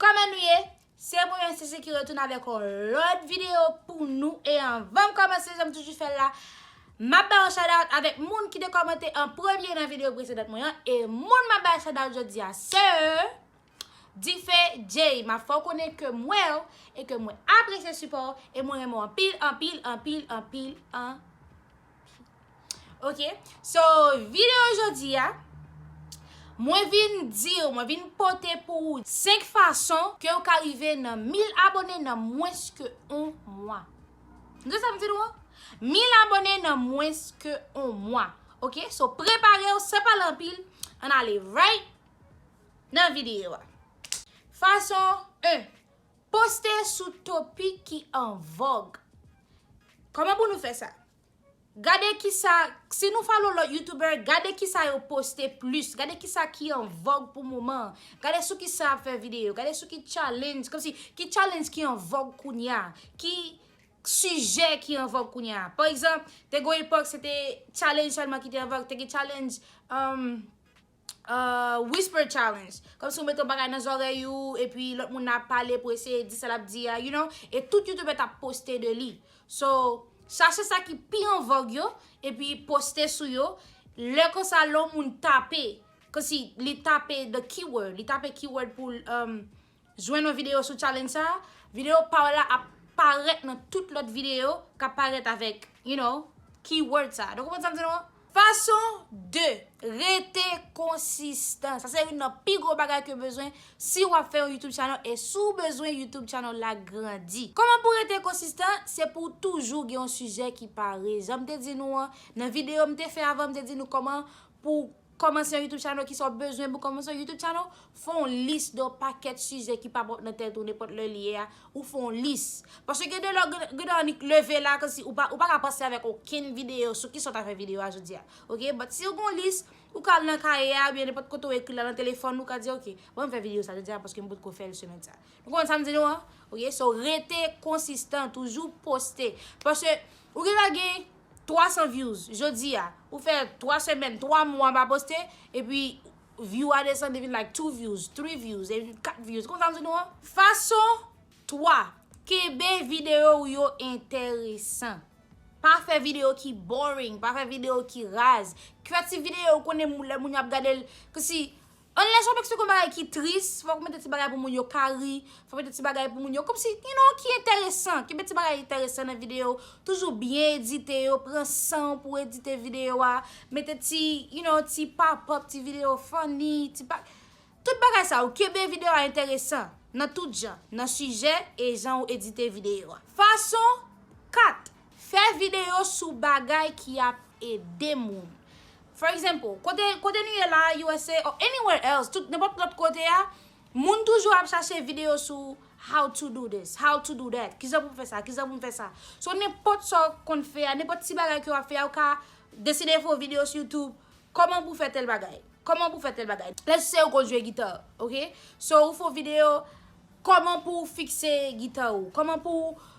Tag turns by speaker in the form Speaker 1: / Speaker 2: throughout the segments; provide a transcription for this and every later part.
Speaker 1: Kòman nou ye? Se mwen menm Sese ki retounen avèk yon lòt videyo pou nou e anvan m kòmanse jan m toujou fè l la m ap bay yon shoutout avèk moun ki te kòmante an premye nan videyo presedan mwen an e moun m ap bay shoutout jodi a se Dife Jay m ap fè w konnen ke m wè w e ke mwen apresye sipò w e mwen renmen w anpil anpil anpil anpil anpil. Ok, so video jodi a Mwen vin diw, mwen vin pote pou ou 5 fason ke ou ka rive nan 1000 abone nan mwens ke 1 mwa Tande sa m di nou an, 1000 abone nan mwens ke 1 mwa Ok, so preparew san pale anpil, ann ale right nan video a Fason 1. Poste sou topik ki an vòg. Kòman pou nou fè sa? Gade kisa, si nou follow lòt youtuber, gade kisa yo poste plis, gade kisa ki an vòg pou moman an, gade sou kisa yap fè video, gade sou ki challenge, kòmsi ki challenge ki an vòg kounya, ki sijè ki an vòg kounya. Paregzanp, te gon epòk se te challenge sèlman ki te an vòg, te gen challenge, emm. whisper challenge kom si ou mete yon bagay nan zorey ou epi lot moun nan ap pale pou eseye di sa lap di ya you know e tout youtuber tap poste de li so chache sa ki pi an vog yo epi poste sou yo lè konsa lè yon moun tape kom si li tape the keyword li tape keyword pou l Jwenn yon videyo sou challenge sa a, videyo pa w la ap parèt nan tout lòt videyo k ap parèt avèk you know keyword sa a. Nou konprann sa m di nou an? Fason 2, Rete konsistan. Sa se youn nan pi gwo bagay ke w bezwen si w ap fè yon YouTube channel e si w bezwen YouTube channel la grandi. Kòman pou w rete konsistan? Se pou w toujou gen yon sijè ki pare. Jan m te di nou an, nan videyo m te fè avan m te di nou kòman pou Kòmanse yon YouTube channel, kisa w bezwen pou kòmanse yon YouTube channel, fè yon lis de yon pakèt sijè ki pa bon nan tèt ou nenpòt lè li ye a, ou fè yon lis. Paske gen de lè ou gen dwa annik leve la kòmsi ou pa ou pa ka panse avèk okenn videyo sou kisa w ta fè videyo a jodi a. Ok, but si ou gen yon lis, ou ka al nan kaye a oubyen nenpòt kote ou ekri la nan telefòn ou ka di ok, bon m fè videyo sa jodi a paske m potko fè l semèn sa. Nou konprann sa m di nou an? Ok, so rete konsistan, toujou poste. Paske ou gen dwa gen. 300 views jodi a ou fè 3 semèn 3 mwa ou pa poste epi view a desann li vin like 2 views 3 views epi 4 views konprann sa m di nou an? Fason 3, kenbe videyo ou yo enteresan. Pa fè videyo ki boring, pa fè videyo ki raz. Kreyati videyo ou konnen lè moun yo ap gade l, kòmsi. An lè chòmèk se kon bagay ki tris, fòk mete ti bagay pou moun yo ka ri, fòk mete ti bagay pou moun yo kòmsi you know ki enteresan, kenbe ti bagay enteresan nan videyo, toujou byen edite yo, pran san ou pou edite videyo a, mete ti you know ti papòp, ti videyo funny, ti pa tout bagay sa yo kenbe videyo a enteresan nan tout jan, nan sijè e jan ou edite videyo a. Fason 4. Fè videyo sou bagay ki ap ede moun. For example, kote kote nou ye la a usa or anywhere else, tout nenpòt lòt kote a, moun toujou ap chache videyo sou how to do this, how to do that, kijan pou m fè sa, kijan pou m fè sa. So nenpòt sa w konn fè a, nenpòt ti bagay ke w ap fè a, ou ka deside fè yon videyo sou youtube, kòman pou w fè tèl bagay, kòman pou w fè tèl bagay. Lèt's say ou konn jwe gita, ok, so ou fè yon videyo kòman pou w fikse gita ou, kòman pou w.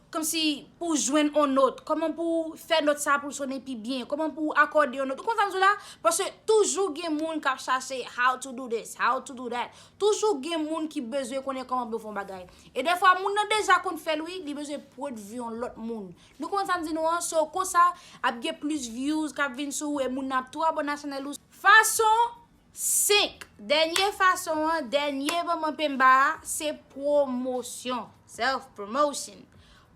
Speaker 1: Kòmsi pou w jwenn on not, kòman pou w fè not sa pou l sonnen pi byen, kòman pou w akòde on not. Ou konprann sa m di w la? Paske toujou gen moun k ap chache how to do this, how to do that. Toujou gen moun ki bezwen konnen kòman pou yo fè on bagay. E dèfwa moun nan deja konn fè l wi, li bezwen pwodvi on lòt moun. Nou konprann sa m di nou an? So, konsa, ap gen plis vyouz k ap vin sou ou e moun nan ap tou abòne a chanèl ou. Fason 5, Dènye fason an, dènye moman penmba a, se pwomosyon, self promotion.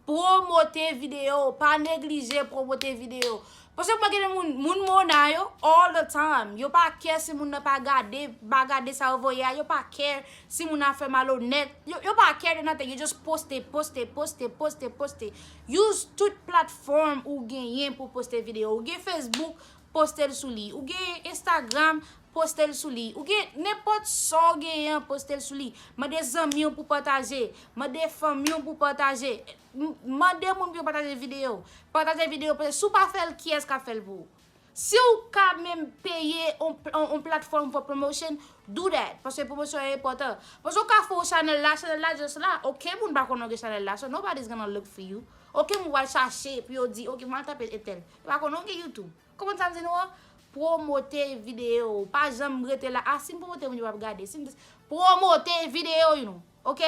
Speaker 1: Pwomote videyo w, pa neglije pwomote videyo w. Paske mwen gen de moun, moun Mona yo, all the time, yo pa kè si moun nan pa gade, pa gade sa yo voye a, yo pa kè si moun nan ap fè malonèt, yo pa kè de nothing, yo just poste, poste, poste, poste, poste. Use tout platform ou genyen pou poste videyo w. Ou gen Facebook. poste l sou li. Ou gen Instagram, poste l sou li. Ou gen nenpòt sa w genyen an, poste l sou li. Mande zanmi w pou pataje. Mande fanmi w pou pataje. Mande moun pou yo pataje videyo. Pataje videyo. Pase si w pa fè l, kiyès k ap fè l pou ou? Si w ka menm peye yon platfòm for promotion, do that. Pase pwomosyon an enpòtan. Pase w ka fè yon chanèl la, chanèl la just la. Okenn moun pa konnen w gen chanèl la. So nobody is gonna look for you. Okenn moun pa pral chache pou yo di, ok, m al tape entèl. Ou pa konnen ou gen youtube. Konprann sam di nou an? Promote video ou. Pa janm rete la. Ah sim promote moun yo pap gade. Sim dis promote video ou nou. Ok?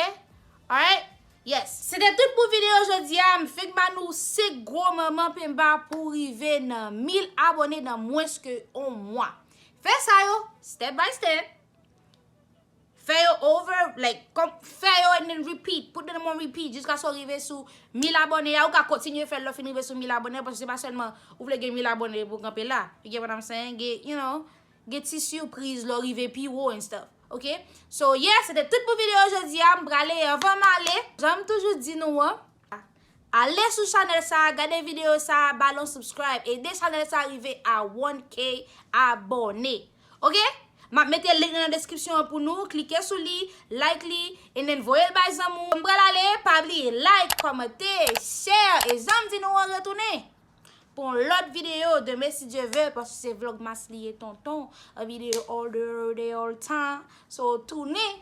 Speaker 1: Alright? Yes. Se te tout pou video jodi a. M fenk ba nou 5 gwo manman penba pou rive nan 1000 abone nan mwens ke on mwa. Fè sa yo. Step by step. Fè yo over like kòm fè yo and then repeat put them on repeat jiskaske w rive sou 1000 abòne a ou ka kontinye fè l lè w fin rive sou 1000 abòne a paske se pa sèlman ou vle gen 1000 abòne pou w kanpe la you get what I'm saying gen you know gen ti surprise lè w rive pi wo and stuff ok so yeah se te tout pou videyo jodi a m prale anvan m ale jan m toujou di nou an. Ale sou chanel sa gade video sa bal on subscribe ede chanel sa rive a 1k abone ok map mete link nan description an pou nou klike sou li like li en nen voyel bay zanmi w m pral ale pa bliye like komante share e janm di nou an retounen pou yon lot video demen si Dieu veut paske se vlogmas li ye tonton a video all the day all tan so tounen.